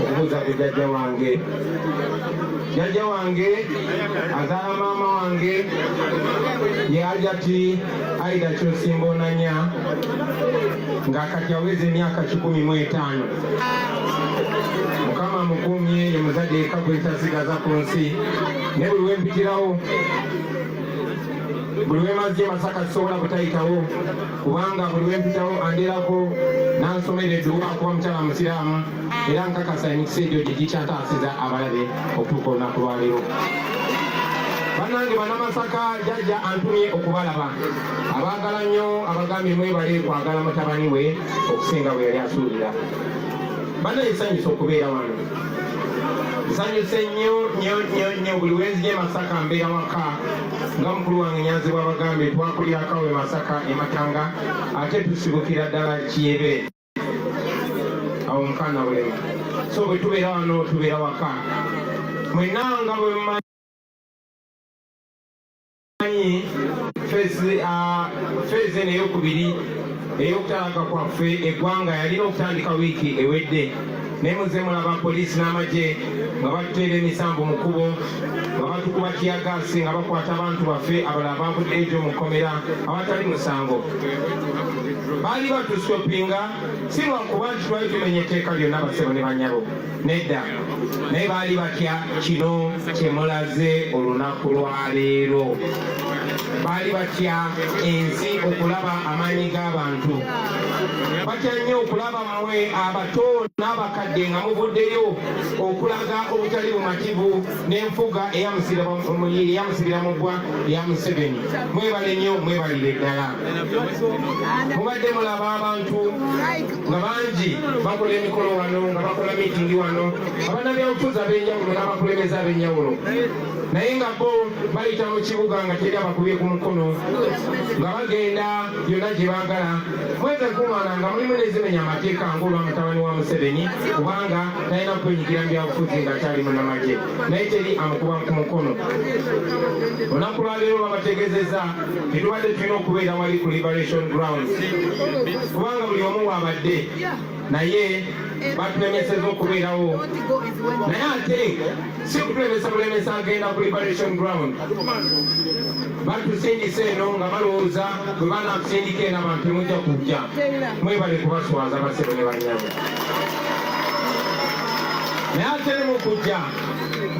okubuuza ku jajja wange jajja wange azaala maama wange yajati aida kyosimba onanya nga kati aweza emyaka kikumi mu etaano mukama mukumye ye muzadde eka gwetasigaza ku nsi ne buli wempitirawo buli wemazi masaka sisobola butayitawo kubanga buli wempitawo andirako nansomera edduwa kuba mukyala musiraamu era nkakasa emikisa egyo gye gikyataasiza abalabe okutuuka olunaku lwaleero banange banamasaka jajja antumye okubalaba abaagala nnyo abagambye mwebale kwagala mutabani we okusinga bwe yali asuubira banaye sanyusa okubeera wano nsanyuse nnyo nnyo nnyo nnyo buli wenzija emasaka mbeera waka nga mukulu wange nyanzi bwabagambye twakulira akawe masaka ematanga ate tusibukira ddala kiyebe awo mukana bulemu so bwe tubeera wano tubeera waka mwena nga bwe mumanyi feezi ah, eno eyokubiri eyokutalaga kwaffe eggwanga yalina okutandika wiiki ewedde naye muze mulaba poliisi n'amagye nga batuteera emisanvu mu kkubo nga batukuba kiyagaasi nga bakwata abantu baffe abala abavudde egyo mu kkomera awatali musango baali batusitopinga si lwakuba nti twali tumenya etteeka lyonna basebo ne banyabo nedda naye baali batya kino kyemulaze olunaku lwaleero baali batya ensi okulaba amaanyi g'abantu batya nnyo okulaba mwe abato n'abakadde nga muvuddeyo okulaga obutali bumativu n'enfuga eyamusibira mu ggwa ya museveni mwebale nnyo mwebalire ddala mubadde mulaba abantu nga bangi bakola emikolo wano nga bakola miitingi wano abanabyabufuzi ab'enjawulo n'abakulembeza ab'enjawulo naye nga bo bayita mu kibuga nga teri abakubye ku mukono nga bagenda yonna gye baagala mweze kumala nga mulimu nezimenya amateeka ng'olwa mutabani wa museveni kubanga talina kwenyigira mu byabufuzi nga kyali munamagye naye teri amukuba ku mukono olunaku lwaleero babategezeza tetubadde tulina okubeera wali ku liberation grounds kubanga buli omu waabadde naye batulemeseza okubeerawo naye ate si kutulemesa bulemesa agenda ku liberation ground batusindisa eno nga balowooza bwe banakusindika eno abantu temujja kujja mwebale kubaswaza basebo ne banyabo naye ate ne mukujja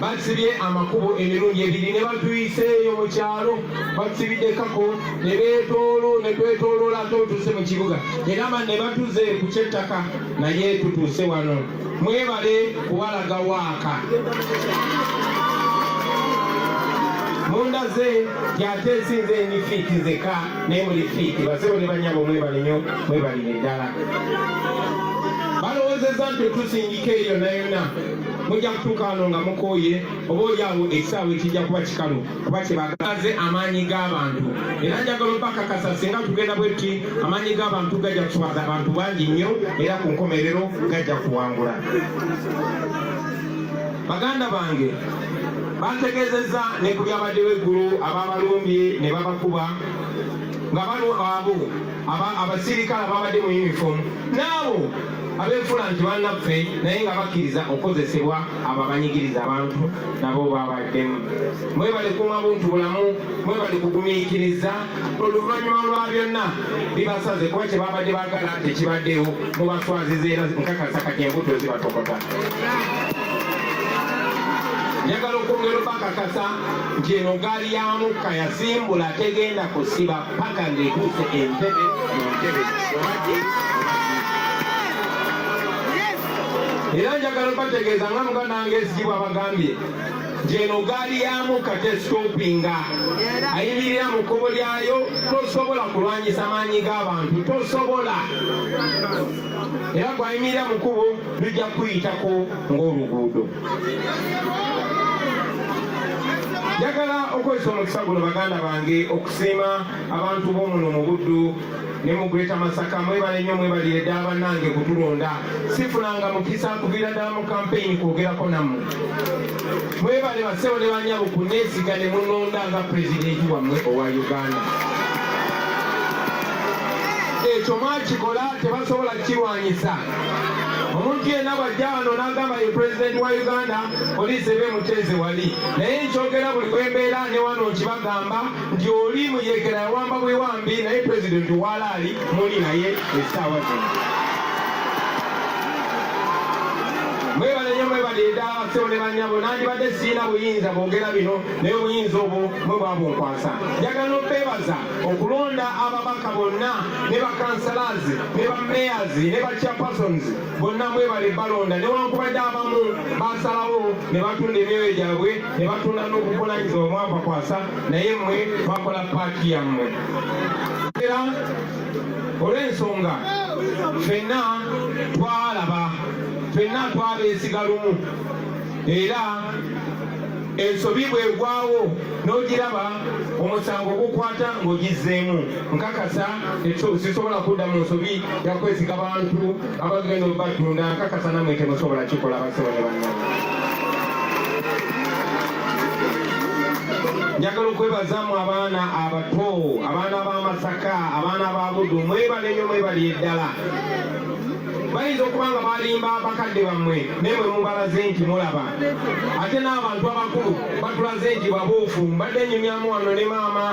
basibye amakubo emirundi ebiri ne batuyiseeyo mu kyalo batusibiddekako ne beetoolo ne twetooloola ate otuuse mu kibuga era ma ne batuze ku kyettaka naye tutuuse wano mwebale kuwalaga waaka mundaze yate nsinze eni fiiti zeka naye muli fiiti basebo ne banyabo mwebale nyo mwebalire ddala balowozeza nti otusingika eyo nayona mujja kutuuka wano nga mukooye oba olyawo ekisaawe kijja kuba kikalu kuba kyebagaze amaanyi g'abantu era njagala obakakasa singa tugenda bwetti amaanyi g'abantu gajja kuswaza abantu bangi nnyo era ku nkomerero gajja kuwangula baganda bange bategezeza ne ku byabaddewo eggulu ababalumbye ne babakuba nga balwa abo abasirikale ababadde mu yunifoomu naabo abefula nti banaffe naye nga bakkiriza okukozesebwa abo abanyigiriza abantu nabo babaddemu mwebale kuuma buntu bulamu mwebale kugumiikiriza oluvannyuma lwa byonna bibasaze kuba kye babadde bagala tekibaddewo mubaswaziza era nkakasa kati embuto zibatokota njagala okwongera obakakasa nti eno gaali ya mukka yasimbula tegenda kusiba paka ng'etuuse entebe mu ntebe era njagala obategeeza nga muganda wange ezigibwa abagambye nti eno gaali ya mukka tesitopinga ayimirira mu kkubo lyayo tosobola kulwanyisa maanyi g'abantu tosobola era gwayimirira mu kkubo lujja kuyitako ng'oluguudo njagala okozesa omukisa guno baganda bange Siima abantu b'omuno mu Buddu ne mu Greater Masaka mwebale nnyo mwebalire ddala bannange kutulonda sifunanga mukisa kuviira ddala mu kampeyini kwogerako nammwe mwebale basebo ne banyabo kuneesiga ne munonda nga pulezidenti wammwe owa Uganda ekyo mwakikola tebasobola kirwanyisa omuntu yenna bw'ajja wano n'agamba ye pulezidenti wa uganda poliisi ebe muteeze wali naye nkyogera buli bwe mbeera ne wano nkibagamba nti oli muyekera yawamba bwewambi naye pulezidenti walaali muli naye essaawa zino baleeta abasawo ne banyabo nandibadde siina buyinza bwogera bino naye obuyinza obwo mwe bwabunkwasa njagala obebaza okulonda ababaka bonna ne bakansalaazi ne bameyazi ne bachapersons bonna mwebale balonda newankubadde abamu basalawo ne batunda emyoyo gyabwe ne batunda n'obuvunaanyizibwa omwabakwasa naye mmwe bakola paaki yammwe era olw'ensonga fenna twalaba fenna twabeesiga lumu era ensobi bwegwawo n'ogiraba omusango gukwata ng'ogizzeemu nkakasa sisobola kudda mu nsobi yakwesiga bantu abagenda obatunda nkakasa namwe temusobola kikola basebo ne banna njagala okwebazamu abaana abato abaana b'amasaka abaana ba budu mwebale nyo mwebali eddala bayinza okuba nga balimba bakadde bammwe naye mwe mubalaze nti mulaba ate n'abantu abakulu batulaze nti babuufu mbadde nyumyamu wano ne maama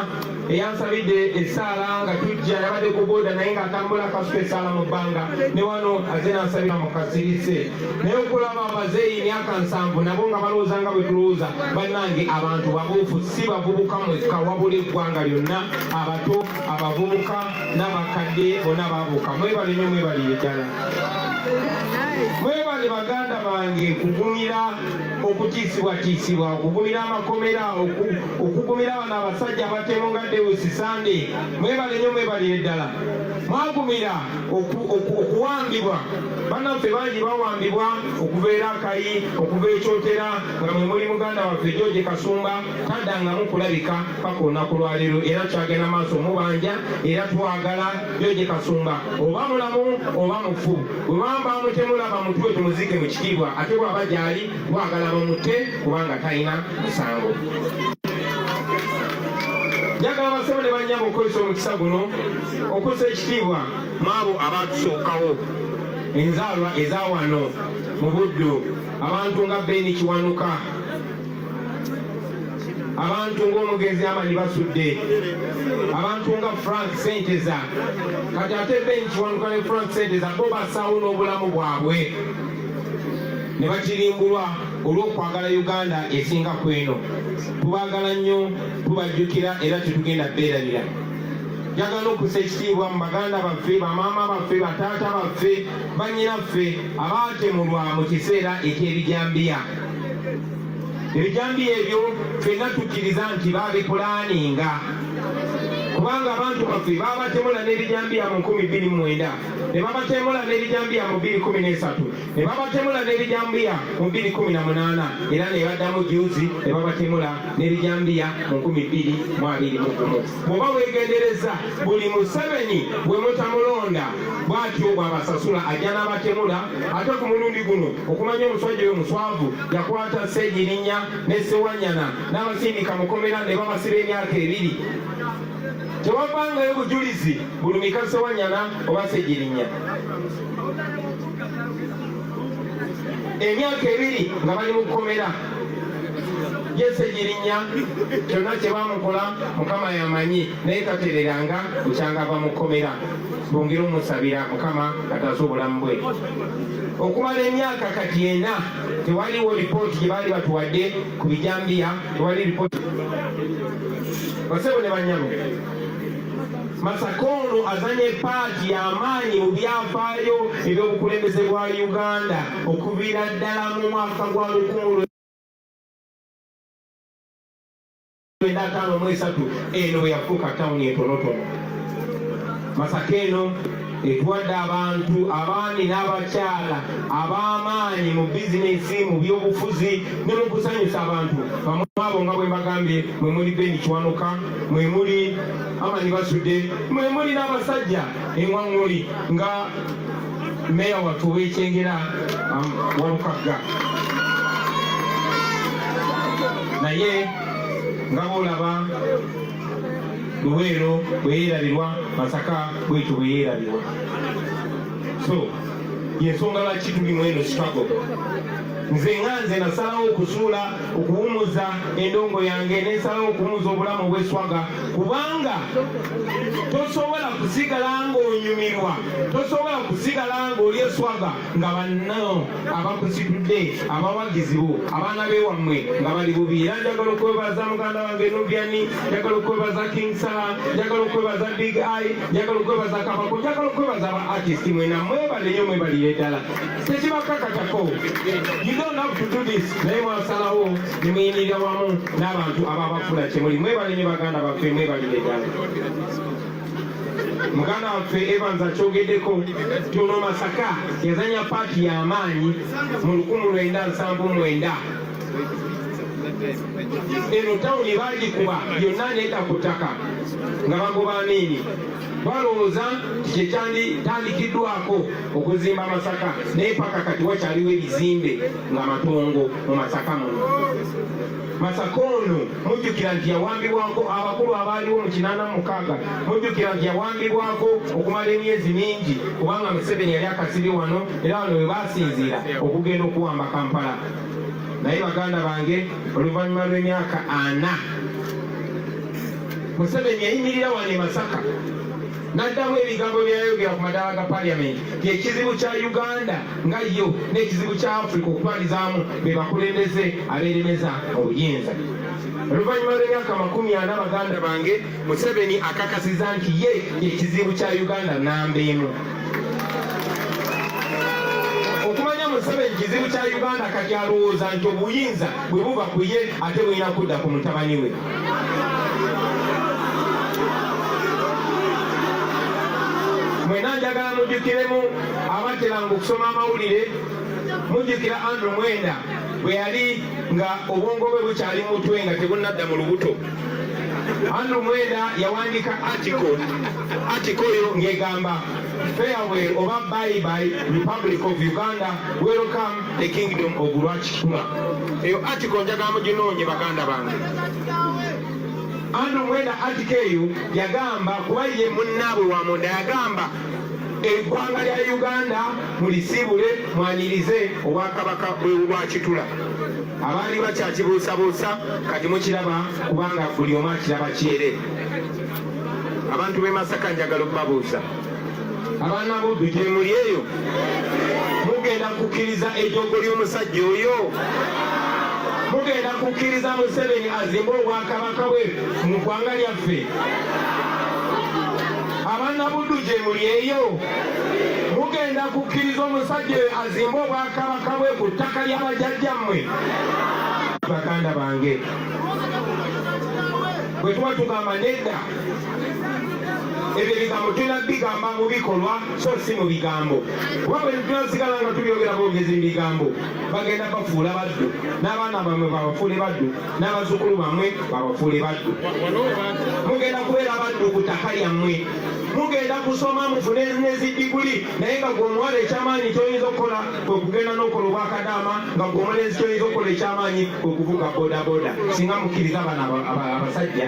eyansabidde essaala nga tujja yabadde ku boda naye ng'atambula kasuka essaala mu bbanga ne wano aze nansabira mu kasirise naye okulaba abazeeyi myaka nsanvu nabo nga balowooza nga bwe tulowooza bannange abantu babuufu si bavubuka mwekka wabula eggwanga lyonna abato abavubuka n'abakadde bona babuuka mwebale nyo mwebalire ddala mwebale baganda bange kugumira okutiisibwatiisibwa okugumira amakomera okugumira bano abasajja abatemu nga dewusi sande mwebale nyo mwebalire ddala mwagumira okuwambibwa banaffe bangi bawambibwa okuva era akayi okuva ekyotera nga mwe muli muganda waffe george kasumba taddangamu kulabika paka olunaku lwaleero era tukyagenda maaso mubanja era twagala joje kasumba oba mulamu oba mufu wewamba mutemulaba mutwe tumuzike mu kitiibwa ate bwaba gyali twagala bamute kubanga talina musango njagala basebo ne banyama okukozesa omukisa guno okusa ekitiibwa maabo abaatusookawo enzaalwa eza wano mu buddu abantu nga beni kiwanuka abantu ng'omugenzi amanyi basudde abantu nga frank senteza kati ate ben kiwanuka ne frank senteza bo basaawo n'obulamu bwabwe ne bakirimbulwa olw'okwagala uganda esinga ku eno tubaagala nnyo tubajjukira era tetugenda beerabira njagala okusa ekitiibwa mu baganda baffe bamaama baffe bataata baffe bannyinaffe abaatemulwa mu kiseera eky'ebijambiya ebijambiya ebyo fenna tukkiriza nti babipulaaninga kubanga abantu baffe babatemula n'ebijambiya mu nkumi bbiri mu mwenda ne babatemula n'ebijambiya mu bbiri kumi n'esatu ne babatemula n'ebijambiya mu bbiri kumi na munaana era ne baddamu juzi ne babatemula n'ebijambiya mu nkumi bbiri mu abiri mu gumu bw'oba weegendereza buli museveni bwe mutamulonda bw'atyo bw'abasasula ajja n'abatemula ate ku mulundi guno okumanya omuswajja oyo muswavu yakwata Ssegirinya ne Ssewanyana n'abasindika mukomera ne babasiba emyaka ebiri tewavangayo bujulizi bulumika Ssewanyana oba Ssegirinya emyaka ebiri nga bali mu kkomera yese girinya kyonna kye bamukola mukama yamanyi naye tatereranga bukyangava mu kkomera bongere omusabira mukama kataasa obulamu bwe okumala emyaka kati ena tewaliwo lipooti gye baali batuwadde ku bijambiya tewali lipooti basebo ne banyabo masaka ono azanye paati y'amaanyi mu byafaayo eby'obukulembeze bwa uganda okuviira ddala mu mwaka gwa lukumi enda ataano mu esatu eno bwe yafuuka tawuni entonotono masaka eno etuwadde abantu abaami n'abakyala ab'amaanyi mu bizinesi mu byobufuzi ne mu kusanyusa abantu bamu abo nga bwe mbagambye mwe muli beni kiwanuka mwe muli amani basudde mwe muli n'abasajja eŋwaŋŋuli nga meeya wattu ow'ekyengera um, walukagga naye nga bolaba luweero bweyerabirwa masaka bwekyo bweyerabirwa so yensonga lwaki tuli mweno sikago nze nga nze nasalawo okusuula okuwumuza endongo yange nensalawo okuwumuza obulamu obweswaga kubanga tosobola kusigala ngaonyumirwa tosobola kusigala ng'oli eswaga nga banno abakusitudde abawagizi bo abaana bewammwe nga bali bubi era njagala okwebaza muganda wange nubiani njagala okwebaza king sala njagala okwebaza big i njagala okwebaza kabako njagala okwebaza aba artist mwena mwebale nyo mwebalire ddala tekibakakatako you don't have to do this naye mwasalawo nemuyinirira wamu n'abantu ababafula kyemuli mwebale nyo baganda baffe mwebalire ddala muganda waffe Evans akyogeddeko nti ono Masaka yazanya paati y'amaanyi mu lukumi lwenda nsanvu mwenda eno tawuni baagikuba yonna neeta ku ttaka nga bagoba amiini balowooza nti kyekyanditandikiddwako okuzimba masaka naye paka kati wakyaliwo ebizimbe nga matongo mu masaka muno Masaka ono mujjukira nti yawambibwako abakulu abaaliwo mu kinaana mukaaga mujjukira nti yawambibwako okumala emyezi mingi kubanga Museveni yali akasiri wano era wano we baasinziira okugenda okuwamba Kampala naye baganda bange oluvannyuma lw'emyaka ana Museveni yayimirira wano e Masaka n'addamu ebigambo bye yayogera ku madaala ga paliyamenti nti ekizibu kya uganda nga yo n'ekizibu kya afrika okutwalizaamu be bakulembeze abeeremeza obuyinza oluvannyuma lw'emyaka makumi ana baganda bange museveni akakasiza nti ye ekizibu kya uganda namba emu okumanya museveni kizibu kya uganda kati alowooza nti obuyinza bwe buva ku ye ate bulina kudda ku mutabani we mwena njagala mujjukiremu abateranga okusoma amawulire mujjukira andrew mwenda bwe yali nga obwongo bwe bukyali mutwe nga tebunadda mu lubuto andrew mwenda yawandiika atiko atiko oyo ngegamba farewell oba bye bye republic of uganda welcome the kingdom of lwakikula eyo atiko njagala muginoonye baganda bange andi omwenda atiko eyo yagamba kuba ye munnaabwe wa munda yagamba eggwanga lya uganda mulisiibule mwanirize obwakabaka bwebubwakitula abaali bakyakibuusabuusa kati mukiraba kubanga buli omu akiraba kyere abantu b'e masaka njagala okubabuuza abaana bobi gyemuli eyo mugenda kukkiriza ejoogo ly'omusajja oyo mugenda kukkiriza museveni azimbe obwakabaka bwe mu ggwanga lyaffe abaana buddu gyemuli eyo mugenda kukkiriza omusajja oyo azimbe obwakabaka bwe ku ttaka ly'abajajjammwe baganda bange bwe tuba tugamba nedda ebyo ebigambo tulina bigamba mu bikolwa so si mu bigambo kuba bwe tunasigala nga tubyogera bwogezi mu bigambo bagenda bafuula baddu n'abaana bamwe babafuule baddu n'abazzukulu bamwe babafuule baddu mugenda kubeera baddu ku ttaka lyammwe mugenda kusoma mufune nezidiguli naye nga gweomuwala ekyamaanyi kyoyinza okukola kwekugenda nokola obwakadaama nga gweomulenzi kyoyinza okukola ekyamaanyi kwekuvuga bodaboda singa mukkiriza abana abasajja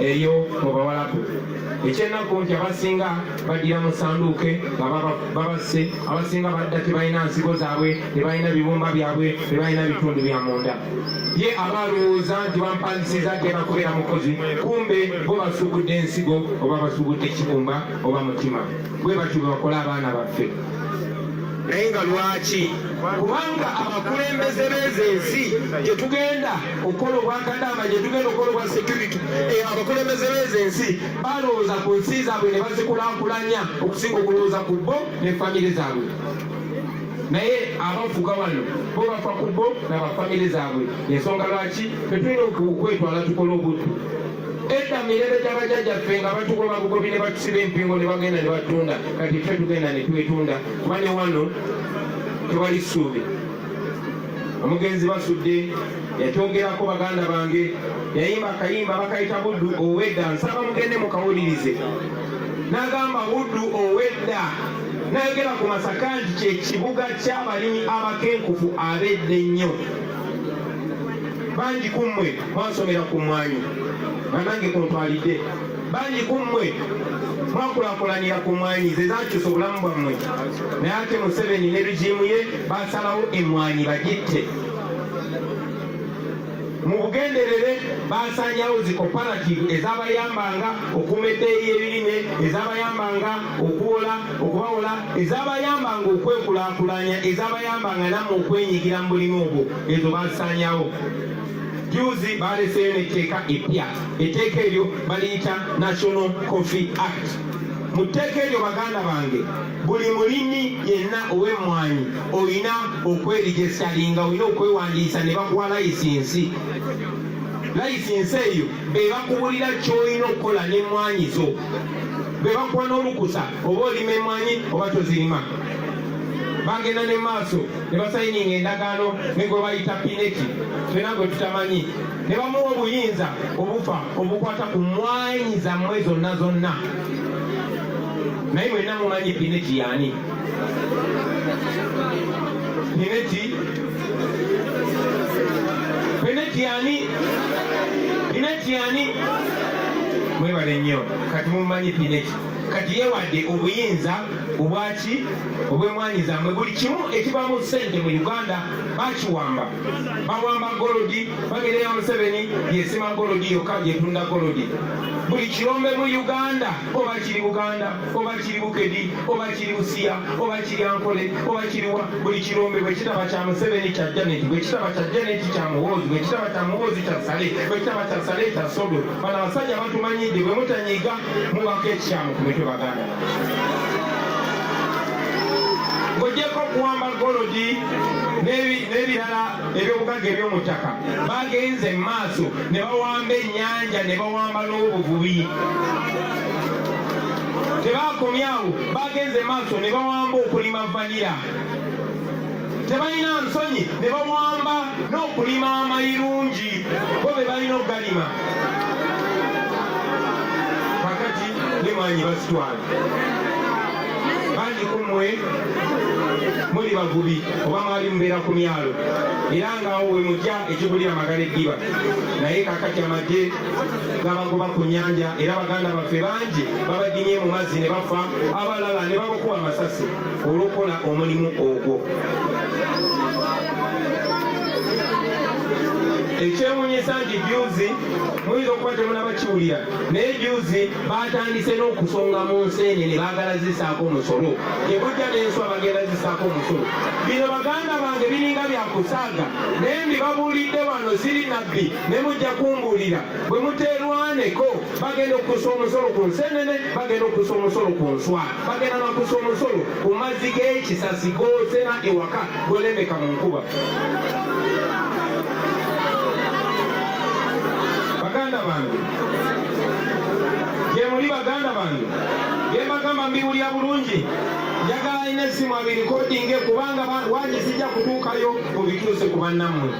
eyo mu bawalabu ekyennaku nti abasinga baddira mu sanduuke nga babasse abasinga badda tebalina nsigo zaabwe tebalina bibumba byabwe tebalina bitundu bya munda ye aba alowooza nti bampangisiza agenda kubeera mukozi kumbe bo basubudde ensigo oba basubudde ekibumba oba mutima bwe batyo bwe bakola abaana baffe naye nga lwaki kubanga abakulembeze b'ezo ensi gye tugenda okukola obwakadaama gye tugenda okukola obwa security eh, abakulembeze beezo ensi balowooza ku nsi zaabwe ne bazikulakulanya okusinga okulowooza ku bo ne famire zaabwe naye abafuga wano bo bafa ku bo nabafamire zaabwe ensonga lwaki tetulina okwetwala tukola obuddu edda mirembe gyabajajjaffe nga batugoba bugobi ne batusiba empingo ne bagenda ne batunda kati ffe tugenda ne twetunda kuba ne wano tewali ssuubi omugenzi basudde yakyongerako baganda bange yayimba akayimba bakayita buddu owedda nsaba mugende mukawulirize nagamba buddu owedda nayogera ku masaka nti kyekibuga kyabalimi abakenkufu abedda ennyo bangi kummwe mwasomera ku mwanyi banange kuntwalidde bangi ku mmwe mwakulakulanira ku mwanyi ze zakyusa obulamu bwammwe naye ate museveni ne rigimu ye basalawo emwanyi bagitte mu bugenderere basanyawo zi cooperative ezabayambanga okuuma eddeeyi y'ebirime ezabayambanga okuwola okubawola ezabayambanga okwekulakulanya ezabayambanga namu okwenyigira mu bulimi obwo ezo basanyawo Juzi baaleseeyo n'etteeka eppya. Etteeka eryo baliyita National Coffee Act. Mu tteeka eryo baganda bange, buli mulimi yenna ow'emmwanyi olina okwerijesitalinga, olina okwewandiisa ne bakuwa layisinsi. Layisinsi eyo be bakubulira ky'olina okukola n'emmwanyi zo, be bakuwa n'olukusa oba olima emmwanyi oba tozirima. Bagenda ne maaso. ne basayininga endagaano ne gwe bayita pineti fena gwe tutamanyi ne bamuwa obuyinza obufa obukwata ku mwanyi zammwe zonna zonna naye mwenna mumanyi pineti yaani pineti pineti yaani pineti yaani mwebale nnyo kati mumanyi pineti kati yewadde obuyinza obwaki obwemwanyi zamwe buli kimu ekibamu sente mu uganda bakiwamba bawamba golodi bagereya museveni yesima golodi yoka gyetunda golodi buli kirombe mu uganda oba kiri buganda oba kiri bukedi oba kiri busiya oba kiri ankole oba kiriwa buli kirombe bwekitaba kya museveni kya janet bwekitaba kya janet kya muwoozi bwekitaba kya muwoozi kya sale bwekitaba kya sale kya sodo bano abasajja batumanyidde bwe mutanyiga mubako ekikyamu ku mitwe baganda ng'ogyeko okuwamba golodi n'ebirala ebyobugagga eby'omu ttaka bagenze mu maaso ne bawamba ennyanja ne bawamba n'obuvubi tebaakomyawo bagenze maaso ne bawamba okulima vanira tebalina nsonyi ne bawamba n'okulima amayirungi bo be balina okugalima kakati ne mwanyi basitwala bangi ku mmwe muli bavubi oba mwali mubeera ku myalo era ngaawo we mujja ekigulira magala eddiba naye kakati amagye gabagoba ku nyanja era baganda baffe bangi babadimye mu mazzi ne bafa abalala ne babakuwa amasasi olw'okukola omulimu ogwo ekyewunyisa nti juzi muyinza okuba temulaba kiwulira naye juzi batandise n'okusonga mu nseene ne baagala zisaako omusolo gyebujja n'enswa bagenda zisaako omusolo bino baganda bange biringa byakusaaga naye mbibabuulidde wano siri nabbi ne mujja kumbuulira bwe muteerwaneko bagenda okukusa omusolo ku nseenene bagenda okukusa omusolo ku nswa bagenda nakusa omusolo ku mazzi g'ekisasi g'otera ewaka gwelembeka mu nkuba baganda bange gyemuli baganda bange byembagamba mbiwulira bulungi njagala alina essimu abirikodinge kubanga waali zijja kutuukayo mubituuse ku bannammwe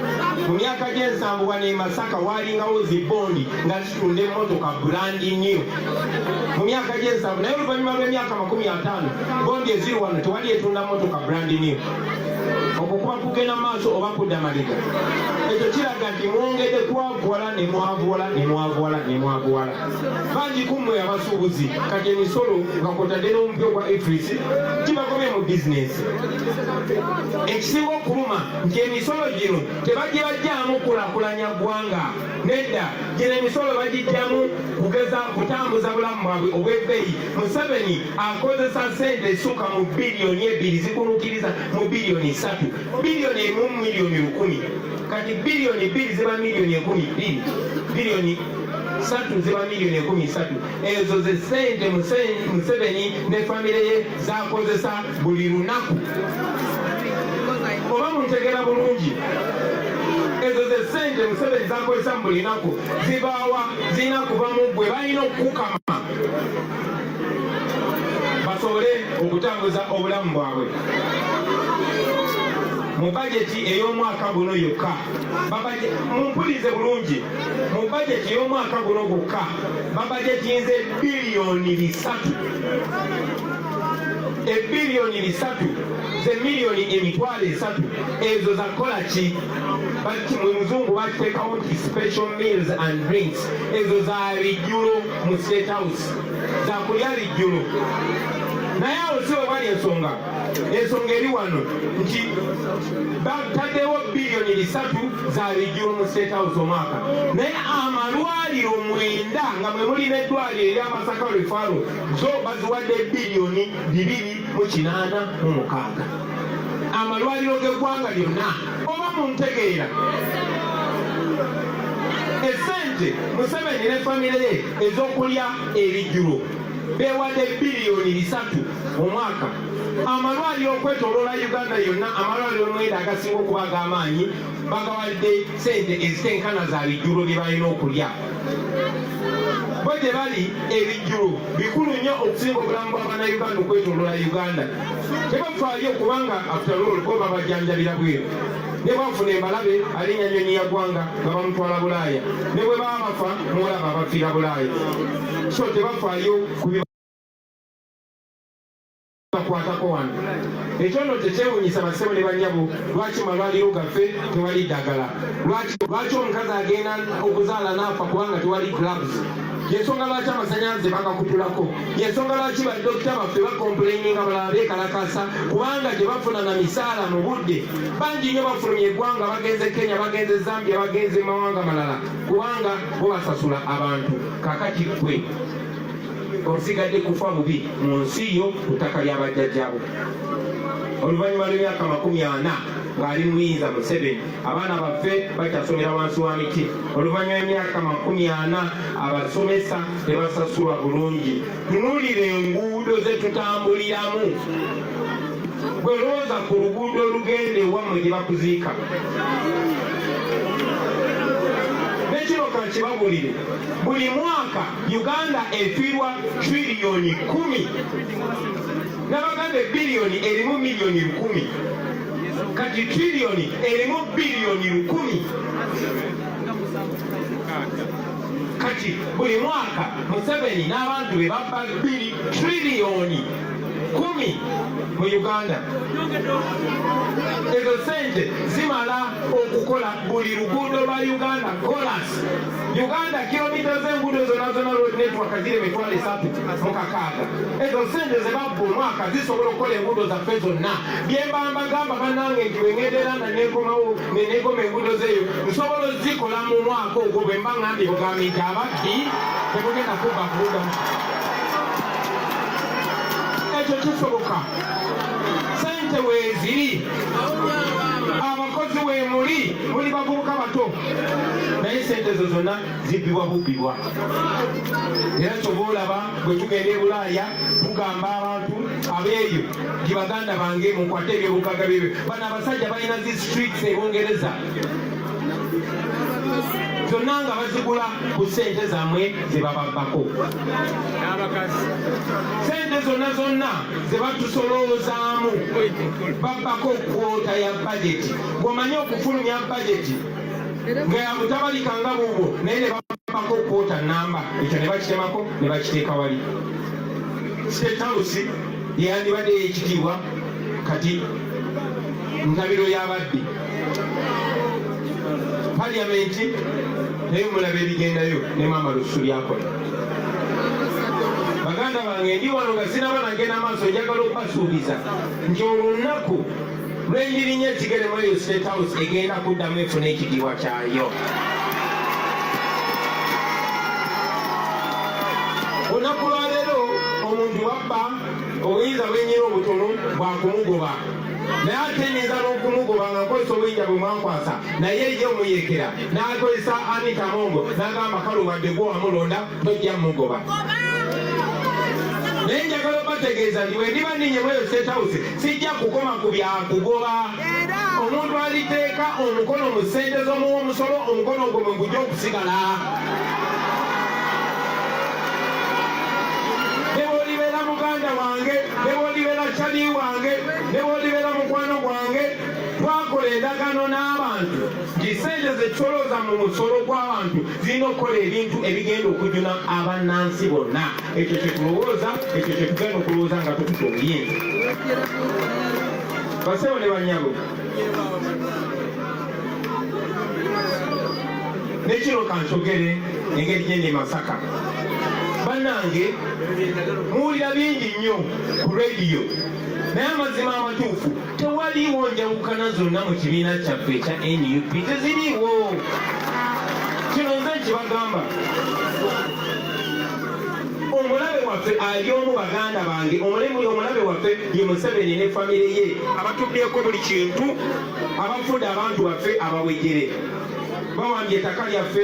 mu myaka gy'ensanvu bano e masaka waalingawo zibbondi nga tunda emmotoka brand new mu myaka gy'ensanvu naye oluvannyuma lw'emyaka makumi ataano bondi eziri wano tewali etunda mmotoka brand new okwo kuba kugenda maaso oba kudda maliga ekyo kiraga nti mwongedde kwavuwala ne mwavuwala ne mwavuwala ne mwavuwala bangi ku mmwe abasuubuzi kati emisolo nga kwotadde n'omupya ogwa efris kibagobye mu bizinensi ekisinga okuluma nti emisolo gino tebagibajjaamu kulakulanya ggwanga nedda gino emisolo bagijjamu kugeza kutambuza bulamu bwabwe obw'ebbeeyi museveni akozesa sente esuka mu biliyoni ebbiri zikunukiriza mu biliyoni satu biliyoni emu miliyoni lukumi kati biliyoni bbiri ziba miliyoni ekumi bbiri biliyoni satu ziba miliyoni ekumi satu ezo ze ssente museveni ne famire ye zakozesa buli lunaku oba muntegera bulungi ezo ze ssente museveni zakozesa mu buli naku zibaawa zirina kuva mu gwe balina okukukama basobole okutambuza obulamu bwabwe mu bajeti ey'omwaka guno yokka mumpulize bulungi mu bajeti y'omwaka guno gwokka babajetinze biliyoni bisatu ebiliyoni bisatu zemiliyoni emitwalo esatu ezo zakola ki muzungu batekawo nti special meals and drinks ezo za bijjulo mu state house zakulya bijjulo naye awo si webali ensonga ensonga eri wano nti bataddewo biliyoni bisatu zalijjula mu state house omwaka naye amalwaliro mwenda nga mwe muli neddwaliro erya masaka rifaro zo baziwadde biliyoni bibiri mu kinaana mu mukaaga amalwaliro g'eggwanga lyonna oba mu ntegeera esente museveni ne famire ye ez'okulya ebijjulo beewadde biliyoni bisatu mu mwaka amalwaliro okwetoloola uganda yonna amalwaliro mwenda agasinga okuba ag'amaanyi bagawadde sente ezitenkana za bijjulo bye balina okulya bo gye bali ebijjulo bikulu nnyo okusinga obulamu bwa bannayuganda okwetoloola uganda tebafaayo kubanga afutaloolo bo babajanjabira bweru ne bwafuna embalabe alinya nyonyi ya ggwanga nga bamutwala bulaaya ne bwe baba bafa muwalaba abafiira bulaaya so tebafaayo bakwatako wano ekyono tekyewunyisa basebo ne banyabo lwaki malwaliro gaffe tewali ddagala lwaki omukazi agenda okuzaala naafa kubanga tewali clubs yensonga lwaki amasanyalaze bagakutulako yensonga lwaki badokita baffe bakompuleninga balala bekalakasa kubanga tebafuna na misaala mu budde bangi nnyo bafulumye eggwanga bagenze kenya bagenze zambia bagenze mawanga malala kubanga bo basasula abantu kakati kwe olusigadde kufa bubi mu nsi yo ku ttaka lya bajjajjabo oluvannyuma lw'emyaka makumi ana ng'ali muyinza museveni abaana baffe bakyasomera wansi wa miti oluvannyuma emyaka makumi ana abasomesa tebasasulwa bulungi tunuulira enguudo ze tutambuliramu gwe lowooza ku luguudo olugenda ewammwe gye bakuziika nekino kakibabulire buli mwaka uganda efiirwa triliyoni kumi nabaganda ebiliyoni erimu miliyoni lukumi kati triliyoni erimu biliyoni lukumi kati buli mwaka museveni n'abantu be babba biri triliyoni kumi mu uganda ezo sente zimala okukola buli luguudo lwa uganda kolas Uganda kilomita z'enguudo zonna zonna road network ziri emitwalo esatu mu kakaaga ezo sente ze babba omwaka zisobola okukola enguudo zaffe zonna bye mbamba gamba bannange nti bwe ngendeera nga nenkomawo ne nenkoma enguudo zeeyo nsobola ozikola mu mwaka ogwo bwe mba ngambye bugambi nti ababbi temugenda kubba kuuda ekyo kisoboka sente weeziri abakozi weemuli muli bavubuka bato naye sente ezo zonna zibbibwa bubbibwa era kyova olaba bwe tugenda ebulaaya tugamba abantu abeeyo nti baganda bange mukwate ebyobugaga byebyo bano abasajja balina zi streets ebungereza zonna nga bazigula ku sente zamwe zebababbako sente zonna zonna zebatusolowozaamu babbako kwota ya bajeti gwomanyi okufulumya bajeti nga yamutabalika nga buubwo naye ne bapako kwota namba ekyo ne bakitemako ne bakiteeka wali stetausi yeyandibadde yekitiibwa kati ntabiro y'ababbi paliyamenti naye mulaba ebigendayo ne maama lusu lyakola baganda bange ndi wano nga sinaba nagenda maaso njagala okubasuubiza nti olunnaku lwendirinya ekigere mu eyo state house egenda kuddamu efuna ekidiwa kyayo olunaku lwaleero omuntu wabba obuyinza bwenyina obutono bwakumugoba naye ate nyinza n'okumugoba nga nkozesa obuyinja bwe mwankwasa naye ye omuyekera n'akozesa anitamongo n'agamba kale wadde gwe wamulonda tojja mugoba naye njagala obategeeza nti wendiba ninye mweyo state house sijja kukoma ku byakugoba omuntu aliteeka omukono mu ssente z'omuwa omusolo omukono ogwo mwe gujja okusigala nebwolibeera muganda wange nebwolibeera cali wange nebwolibeera mukwano gwange twakola endagano n'abantu nti ssente zekisolooza mu musolo gw'abantu zirina okukola ebintu ebigenda okujuna abannansi bonna ekyo kyetulowooza ekyo kyetugenda okulowooza nga tukuta obuyinza basebo ne banyabo nekino kansogere engeri gyendi masaka bannange muwulira bingi nnyo ku rediyo naye amazima amatuufu tewaliwo njawukana zonna mu kibiina kyaffe ekya nup teziriiwo kino nze nkibagamba omulabe waffe ali omu baganda bange omulabe waffe ye museveni ne famire ye abatuddeko buli kintu abafudde abantu baffe abawejere bawambye ettaka lyaffe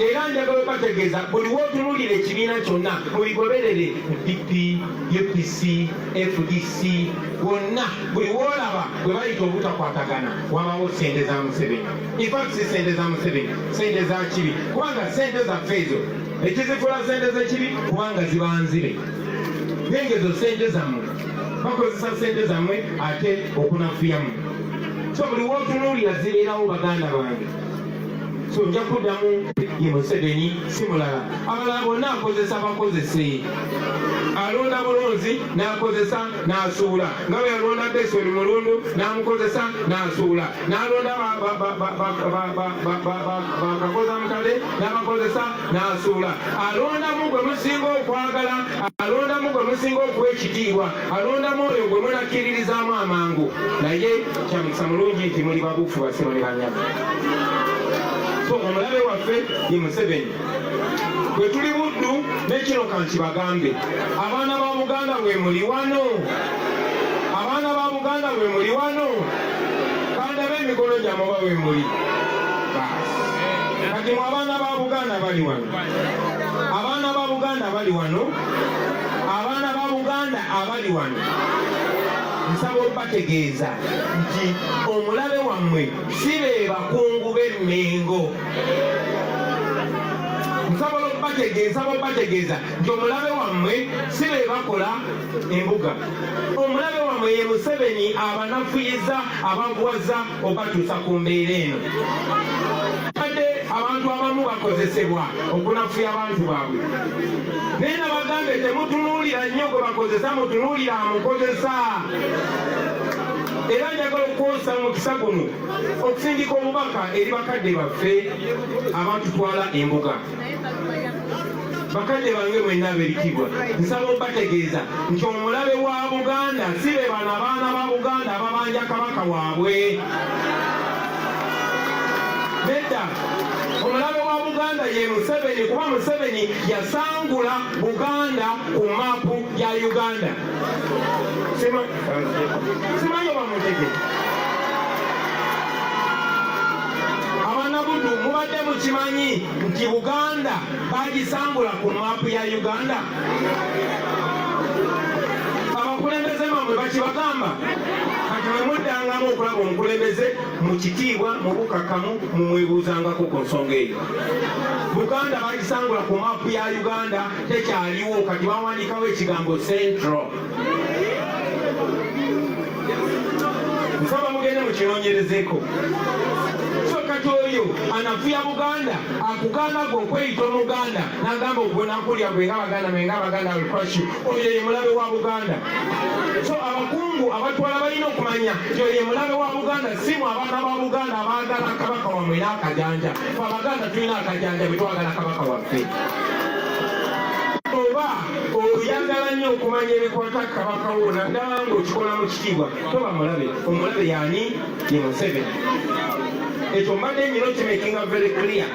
era njagala obategeeza buli wotunulira ekibiina kyonna obigoberere dp upc fdc wonna buli wolaba bwe bayita obutakwatagana wabawo sente za museveni infact si sente za museveni sente za kibi kubanga sente zaffe ezo ekizifula sente zekibi kubanga zibanzire nengezo sente zammwe bakozesa sente zammwe ate okunafuyamu so buli wotunuulira zibeerawo baganda bange so nja kuddamu ye museveni si mulala abalala bonna akozesa bakozese alonda bulunzi n'akozesa n'asuula nga bwe yalonda besoni mulundu n'amukozesa n'asuula n'alonda bakakoza mukade n'abakozesa n'asuula alondamu gwe musinga okwagala alondamu gwe musinga okuwa ekitiibwa alondamu oyo gwe munakkiririzaamu amangu naye kyamukisa mulungi nti muli babuufu basebo ne banyama so omulabe waffe ye museveni bwe tuli buddu nekino kanti bagambe abaana ba buganda bwe muli wano abaana ba buganda bwe muli wano kandabe emikono gyamwe oba bwe muli kati mu abaana ba buganda bali wano abaana ba buganda bali wano abaana ba Buganda abali wano nsaba okubategeeza nti omulabe wammwe si be bakungu b'e Mmengo nsobola okubategeeza babategeeza nti omulabe wammwe si be bakola embuga omulabe wammwe ye museveni abanafuyiza abaguwaza obatuusa ku mbeera eno badde abantu abamu bakozesebwa okunafuya abantu baabwe naye nabagambe temutunuulira nnyo gwe bakozesa mutunuulira amukozesa era njagala okukozesa mukisa guno okusindika obubaka eri bakadde baffe abatutwala embuga bakadde bange mwena ab'ebitiibwa nsaba obategeeza nti omulabe wa buganda si be bano abaana ba buganda ababanja kabaka waabwe nedda omulabe wa buganda ye museveni kuba museveni yasangula buganda ku maapu ya uganda simanyi oba mutegee abanabudu mubadde mukimanyi nti buganda bagisangula ku maapu ya uganda abakulembeze mamwe bakibagamba kati mwemuddangamu okulaba omukulembeze mu kitiibwa mu bukakamu mumwebuuzangako ku nsonga eyo buganda bagisangula ku maapu ya uganda tekyaliwo kati bawandiikawo ekigambo central nsaba mugende mukinonyerezeko so kati oyo anafuya buganda akugamba gwe okweyita omuganda nagamba ogwenakulya gwe nga baganda menga abaganda alcrashi oyo ye mulabe wa buganda so abakungu abatwala balina okumanya nti oyo ye mulabe wa buganda simu abaana ba buganda abaagala kabaka wamwe era akajanja fe abaganda tulina akajanja bwe twagala kabaka waffe oba oyagala nnyo okumanya ebikwata kabaka wo naddala ng'okikola mu kitiibwa toba mulabe omulabe yaani ye museveni ekyo mbadde nyina kimakinga very clear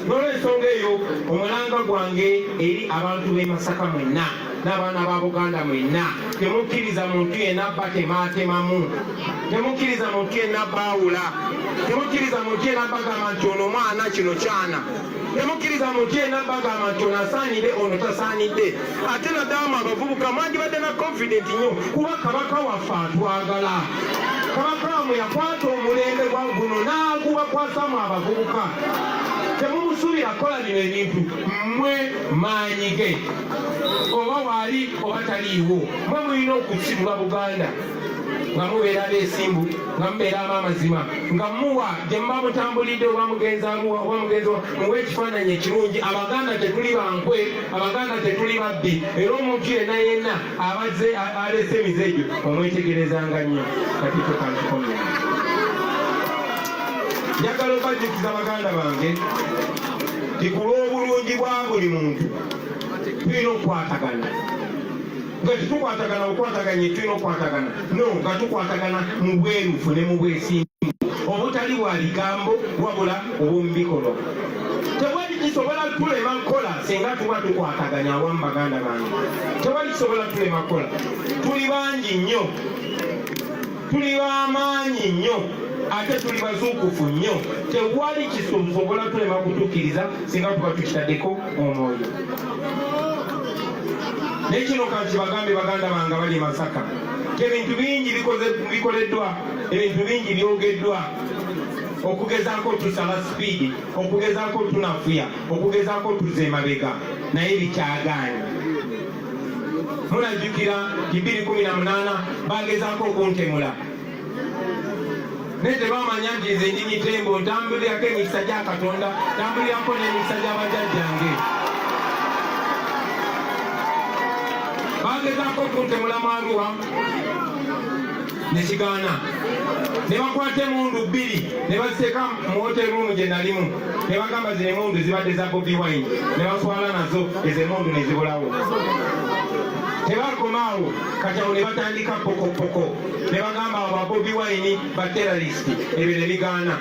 nolwensonga eyo omulanga gwange eri abantu b'e masaka mwenna n'abaana ba buganda mwenna temukkiriza muntu yenna abba temaatemamu temukkiriza muntu yenna abbaawula temukkiriza muntu yenna abbagamba nti ono omwana kino kyana temukkiriza muntu yenna bagamba nti ono asaanidde ono tasaanidde ate naddala mu abavubuka mwandibadde na confident nnyo kuba kabaka waffe atwagala kabaka wamwe yakwata omulembe gwa guno n'agubakwasamu abavubuka temumusuubira kukola bino ebintu mmwe maanyi ge oba waali oba taliiwo mwe mulina okusibula buganda nga mubeera abeesimbu nga mubeera ab'amazima nga muwa gye muba mutambulidde oba mugenzi amuwa oba mugenzi muwa ekifaananyi ekirungi abaganda tetuli bankwe abaganda tetuli babbi era omuntu yenna yenna abazze aleese emize egyo omwetegerezanga nnyo kati tokantukomya njagala obajjukiza baganda bange tikulw'obulungi bwa buli muntu tulina okukwatagana nga tetukwatagana okwataganya etulina okwatagana no nga tukwatagana mu bwerufu ne mu bwesimbu obutali bwa bigambo wabula obwomubikolwa tewali kisobola tulema kukola singa tuba tukwataganya awamu baganda bange tewali kisobola tulema kukola tuli bangi nnyo tuli b'amaanyi nnyo ate tuli bazuukufu nnyo tewali kisobola tulema kutukkiriza singa tuba tukitaddeko omwoyo naye kino kanti bagambe baganda bange bali masaka ebintu bingi bikoleddwa ebintu bingi byogeddwa okugezako tusala sipiidi okugezako tunafuya okugezako tuze emabega naye bikyagaanyi mulajjukira ibiri kumi na munaana bagezaako okuntemula naye tebamanya nti nze ndi mitembo ntambulirako emikisa gya katonda ntambulirako n'emikisa gy'abajajjange bagezaako okuntemula mwaluwa nekigaana ne bakwata emundu bbiri ne baziteeka mu hotel room gye nalimu ne bagamba zino emundu zibadde za bobi wine ne baswala nazo ezo emundu ne zibulawo tebakomaawo kati awo ne batandika pokopoko ne bagamba abo ba bobi wine ba terrorist ebyo ne bigaana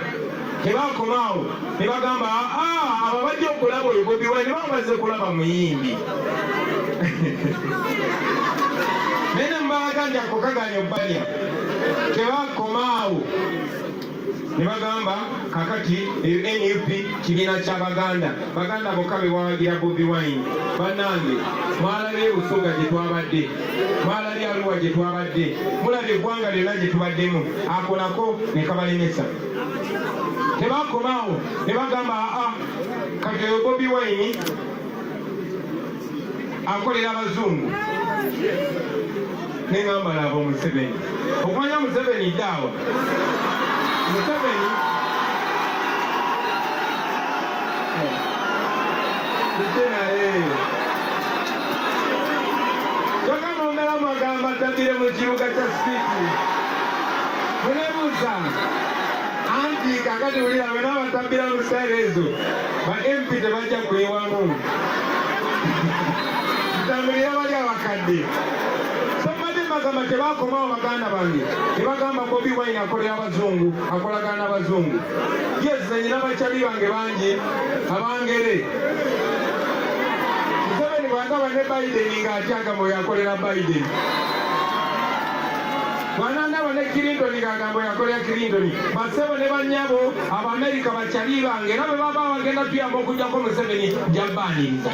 tebakomaawo ne bagamba aa ah, ah, abo bajja okulaba oyo bobi wine ne bamazze kulaba muyimbi naye ne mubaganja kukaganya obbalya tebakomaawo ne bagamba kakati eyo nup kibiina kya baganda baganda bokka be bawagira bobi wine bannange mwalabye busoga gye twabadde mwalabye aluwa gye twabadde mulabye eggwanga lyonna gye tubaddemu akolako ne kabalemesa tebakomaawo ne bagamba aa kati eyo bobi wine akolera abazungu nengamba laba museveni okumanya museveni daawa museveni yagamba omeramu agamba tabire mu kibuga kya siiti munebuuza anti kakati wulira bena abatambira mu siteerezo ba MP tebajja kuyiwamu tambulira bali abakadde bagamba tebakomawo baganda bange nebagamba bobi wine akolera abazungu akolagana abazungu yes zenyina bakyali bange bangi abangere museveni bwagaba ne biden nga atyagamba oyo akolera biden bwanangaba ne clinton nga agamba oyo akolera clinton basebo ne banyabo abamerika taliibanga era bwe baba bagenda tuyamba okujjako museveni jabbaninza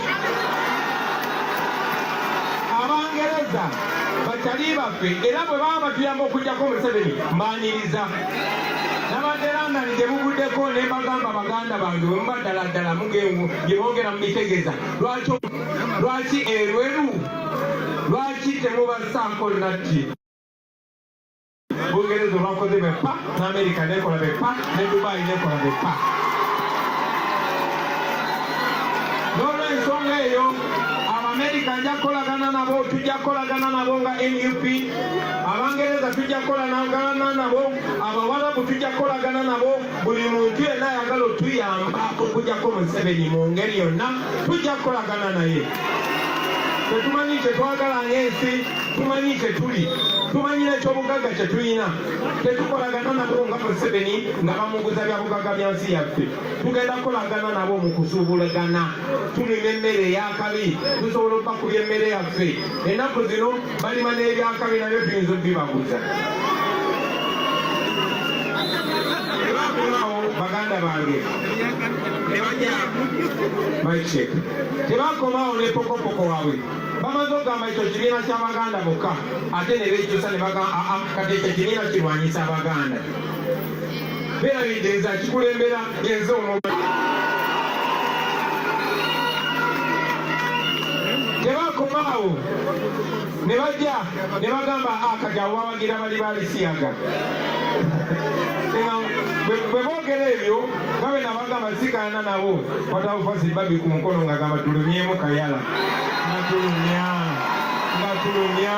abangereza batali baffe era bwe baba batuyamba okujjako museveni mbaniriza nabadde london gye buguddeko ne mbagamba baganda bange bwe muba ddala ddala mugengu gye bongera mu bitegeza lwaki erweru lwaki temubasaako natti Bungereza olwakoze be pa n'Amerika nekola be pa ne Dubai nekola be pa. N'olwensonga eyo Abamerika nja kukolagana nabo, tujja kukolagana nabo nga nup Abangereza tujja kukolagana nabo, Abawarabu tujja kukolagana nabo. Buli muntu yenna ayagala otuyamba okujjako Museveni mu ngeri yonna tujja kukolagana naye. tetumanyi kye twagala ng'ensi tumanyi kye tuli tumanyi n'ekyobugagga kye tulina tetukolagana nabo nga museveni nga bamuguza bya bugagga bya nsi yaffe tugenda kukolagana nabo mu kusuubulagana tulina emmere ey'akabi tusobola okubakubya emmere yaffe ennaku zino balima n'ebyakabi nabyo tuyinza obibaguza tebakomawo baganda bange nebajamike tebakomawo ne pokopoko waabwe bamaze okugamba ekyo kibiina kya baganda bokka ate ne bekyusa ne bagamba ah, ah, kati ekyo kibiina kirwanyisa abaganda beerabidde nze akikulembera yenze omuba tebakomaawo ne bajja ne bagamba akati ah, abo bawagira bali balisiyaga bwe boogera ebyo babe nabagamba sikaana nabo watawufasi babi ku mukono nga gamba tulumyemu kayala natulumya nga tulumya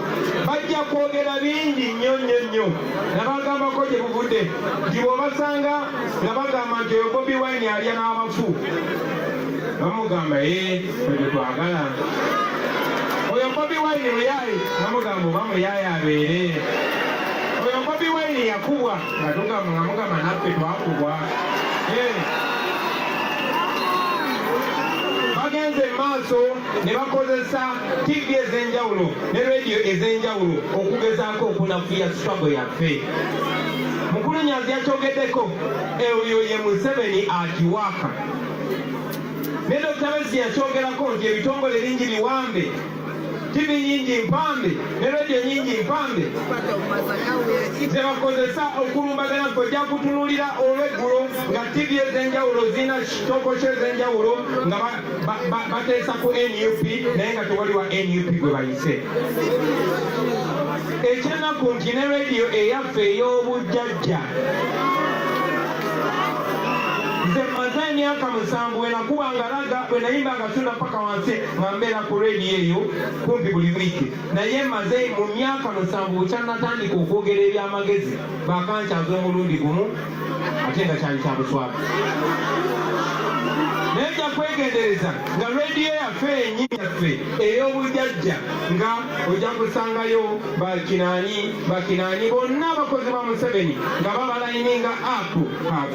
bajja kwogera bingi nnyo nnyo nnyo nabagambako gye buvudde nti bwobasanga nga bagamba nti oyo bobi wine alya n'abafu bamugamba ye oyo twagala oyo bobi wine muyaye bamugamba oba muyaye abeere oyo bobi wine yakubwa nga tugamba nga mugamba naffe twakubwa bagenze mu maaso ne bakozesa ttivi ez'enjawulo ne rediyo ez'enjawulo okugezaako okunafuya sitwago yaffe mukulu nyanzi yakyogeddeko eyo ye museveni akiwaaka ne dokita besi yakyogerako nti ebitongole bingi biwambe ttivi nyingi mpambe ne rediyo nyingi mpambe zebakozesa okulumbagana kwe jakutunulira olweggulo nga ttivi ez'enjawulo zirina kitokokyo ez'enjawulo nga bateesa ku nup naye nga tewali wa nup gwe bayise ekyenaku nti ne rediyo eyaffe ey'obujjajja nze maze emyaka musanvu wenakuba nga laga wenayimba nga tunda paka wansi nga mbeera ku rediyo eyo kumpi buli wiiki naye maze mu myaka musanvu bukyanatandika okwogera eby'amagezi bakankyaza omulundi gumu ate nga kyali kya buswavu naye nja kwegendereza nga rediyo yaffe enyi yaffe ey'obujajja nga ojja kusangayo bakinaani bakinaani bonna abakozi ba museveni nga babalayini nga apu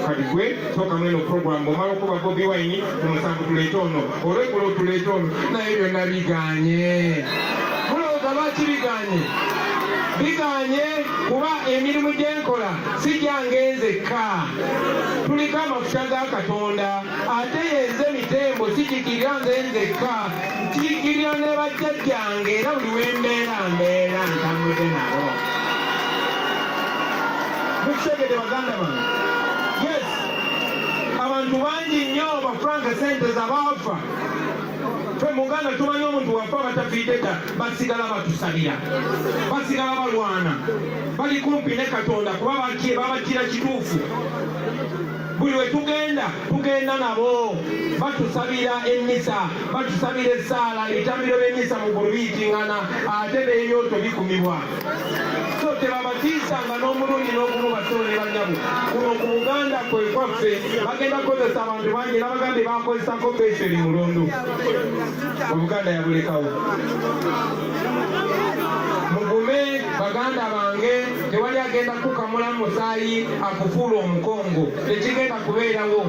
kati gwe tokamweno programu omala okuba bobi wayini ku musanvu tuleete ono olweggulo tuleete ono naye byonna biganye mulowooza lwaki biganye biganye kuba emirimu gyenkola sijange nzekka tuliko amafuta ga katonda ate yenze mitembo sijigirira nze nzekka njigirira ne bajjajjange era buli wembeera mbeera ntambuze nabo mukitegede baganda bange yes abantu bangi nnyo bafranka sente zabaafa fe muganda tumanyi omuntu wafa batafiidde ddala basigala batusabira basigala balwana bali kumpi ne katonda kuba babatira kituufu buli we tugenda tugenda nabo batusabira emmisa batusabira essaala ebitambiro by'emmisa mu gulu biyitingana ate n'ebyoto bikumibwa so tebabatiisanga n'omulundi n'ogumu basolo ne banyabo kuno ku buganda kwe kwaffe bagenda kukozesa abantu bangi n'abagambye bakozesako peso eri mulondo obuganda yabulekawo mugume baganda bange tewali agenda kukamula musaayi akufuula omukongo tekigenda kubeerawo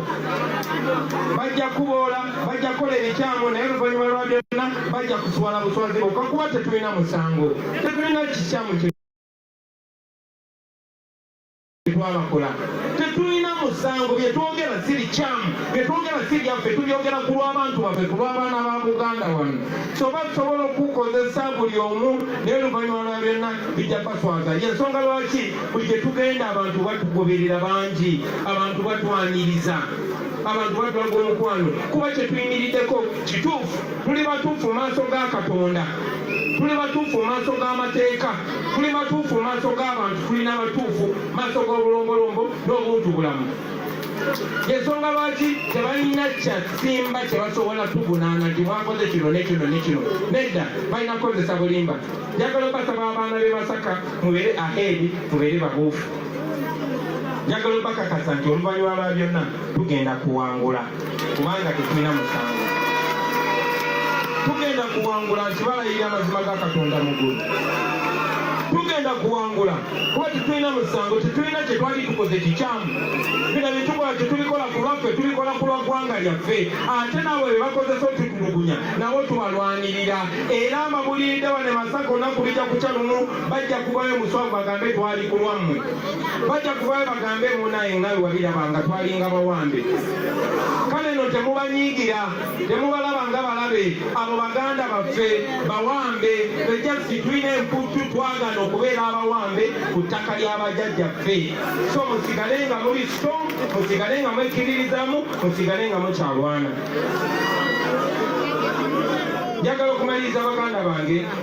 bajja kuboola bajja kukola ebikyamu naye oluvanyuma lwa byonna bajja kuswala buswazi bokka kuba tetulina musango tetulina kikyamu twabakola tetulina musango byetwogera si bikyamu byetwogera si byaffe tubyogera ku lw'abantu baffe ku lw'abaana ba buganda wano soba tusobola okukukozesa buli omu naye oluvannyuma lwa byonna bijja baswaza yensonga lwaki buli gye tugenda abantu batugoberera bangi abantu batwaniriza abantu batulaga omukwano kuba kyetuyimiriddeko kituufu tuli batuufu mu maaso ga katonda tuli batuufu mu maaso g'amateeka tuli batuufu mu maaso g'abantu tuli n'abatuufu mu maaso g'obulombolombo n'obuntu bulamu yensonga lwaki tebalina kyasimba kyebasobola tuvunaana nti mwakoze kino nekino nekino nedda balina kukozesa bulimba njagala obasaba abaana be basaka mubeere aheedi mubeere babuufu njagala obakakasa nti oluvannyuma lwa byonna tugenda kuwangula kubanga tetulina musango tugenda kuwangula nkibalayirira amazima ga katonda mugulu tugenda kuwangula kuba tetulina musango tetulina kyetwali tukoze kikyamu bina byetukola tetubikola ku lwaffe tubikola ku lwa ggwanga lyaffe ate nabo bebakozesa otutulugunya nabo tubalwanirira era amabuliride bane masaka onaku bijja kukya lumu bajja kuvayo muswavu bagambe twali ku lwammwe bajja kuvayo bagambe munaye nga wewabiraba nga twalinga bawambe kale no temubanyiigira temubalaba nga balabe abo baganda baffe bawambe bejasi tulina emputtu twagana okubeera abawambe ku ttaka ly'abajajjaffe so musigale nga muli so musigale nga mwekiririzamu musigale nga mukyalwana njagala okumaliriza baganda bange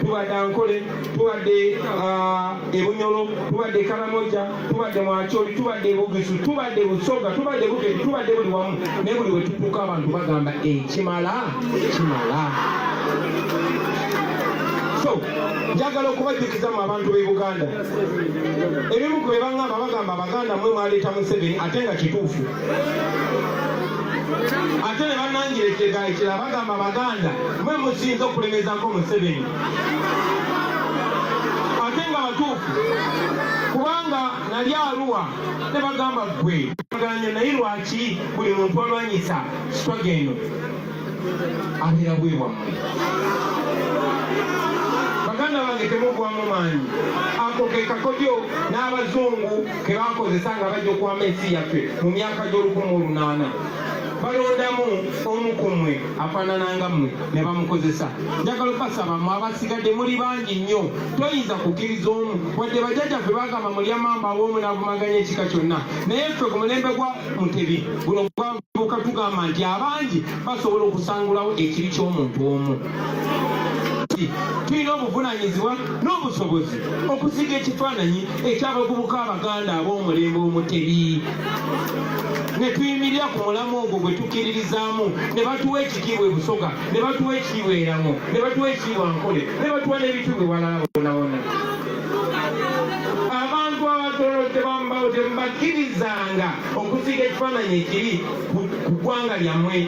tubadde ankole tubadde ebunyolo tubadde karamoja tubadde mwacoli tubadde bugisu tubadde busoga tubadde bukedi tubadde buli wamu naye buli wetutuuka abantu bagamba ekimala kimala so njagala okubajjukiza mu abantu b'e buganda ebimu ku bye bagamba bagamba abaganda mwe mwaleeta museveni ate nga kituufu ate ne banangirekega ekira bagamba baganda mwe musinza okulemezako museveni ate nga batuufu kubanga nali aluwa ne bagamba ggwe aganya naye lwaki buli muntu alwanyisa sitwaga eno abeera bwe bwammwe baganda bange temugwamu maanyi ako ke kakodyo n'abazungu ke bakozesa nga bajja okuwama ensi yaffe mu myaka gy'olukumi olunaana balondamu omu ku mmwe afaanana nga mmwe ne bamukozesa njagala okubasaba mwe abasigadde muli bangi nnyo toyinza kukkiriza omu wadde bajjajjaffe bagamba mulyamamba awoomu n'avumaganya ekika kyonna naye ffe ku mulembe gwa mutebi guno gwavuka tugamba nti abangi basobola okusangulawo ekibi ky'omuntu omu nti tulina obuvunanyizibwa n'obusobozi okusiga ekifaananyi eky'abavubuka abaganda ab'omulembe omutebi ne tuyimirira ku mulamu ogwo gwe tukkiririzaamu ne batuwa ekitiibwa ebusoga ne batuwa ekitiibwa eramo ne batuwa ekitiibwa nkole ne batuwa n'ebintu bye walala bonabona abantu abatolo tebambawo tebakkirizanga okusiga ekifaananyi ekiri ku ggwanga lyammwe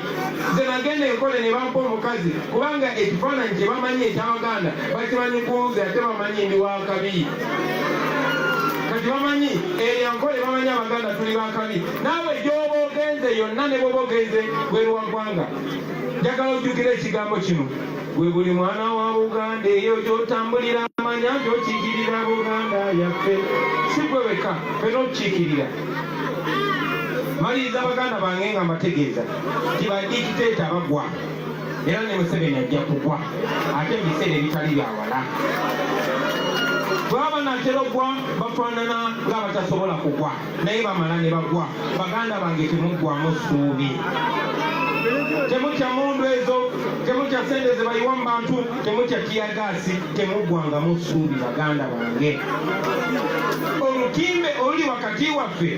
nze nagenda enkole ne bampa omukazi kubanga ekifaananyi kye bamanyi ekyabaganda bakimanyi kunze ate bamanyi ndi wakabi kati bamanyi eyankole eh, bamanyi abaganda tuli bakabi naawe gyoba ogenze yonna ne bwoba ogenze bweruwagwanga njagala ojjukira ekigambo kino gwe buli mwana wa buganda eyo gyotambulira amanya nti okikirira buganda yaffe si gwe weka fena okukikirira maliriza baganda bange nga mbategeeza nti badikiteeta bagwa era ne museveni ajja kugwa ate ebiseera ebitali byawala bwaba natera ogwa bafaanana ng'abatasobola kugwa naye bamala ne bagwa baganda bange temuggwamu ssuubi temutya mundu ezo temutya sente zebayiwa mu bantu temutya tiyagaasi temuggwangamu ssuubi baganda bange olutimbe oluli wakati waffe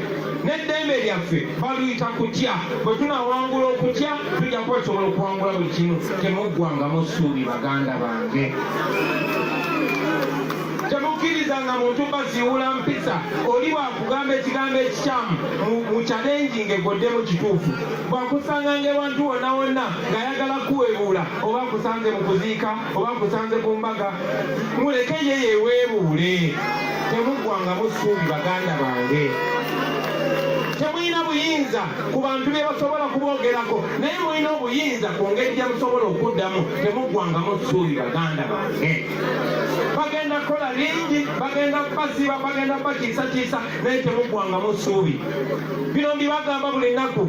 n'eddembe lyaffe baluyita kutya bwe tunawangula okutya tujja kuba tusobola okuwangula buli kimu temuggwangamu ssuubi baganda bange temukkiriza nga muntu baziwula mpisa oli bwakugamba ekigambo ekikyamu mu kyalengi ngaegoddemu kituufu bwakusanga ngaewantu wonna wonna ng'ayagala kuwebuula oba akusanze mu kuziika oba nkusanze ku mbaga muleke ye yeweebuule temuggwangamu ssuubi baganda bange temulina buyinza ku bantu bye basobola kuboogerako naye mulina obuyinza ku ngeri gye musobola okuddamu temuggwangamu ssuubi baganda bange bagenda kukola bingi bagenda kubasiba bagenda kubatiisatiisa naye temuggwangamu ssuubi bino mbibagamba buli nnaku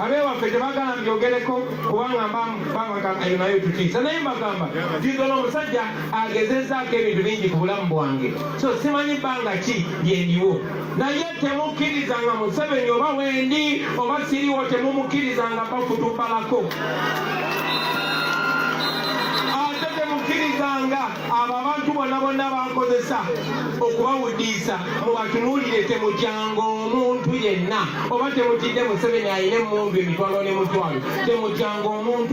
abewaffe tebagala mbyogereko kubanga mbabagamba eyo nayo tutiisa naye mbagamba tigala omusajja agezezaako ebintu bingi ku bulamu bwange so simanyi bbanga ki lyendiwo naye temukkirizanga museveni oba wendi oba siriwo temumukkirizanga bafutubalako abo abantu bona bonna bankozesa okubawuddiisa mubatunuulire temutyanga omuntu yenna oba temutidde museveni alina emmundu emitwalo ne mutwalo temutyanga omuntu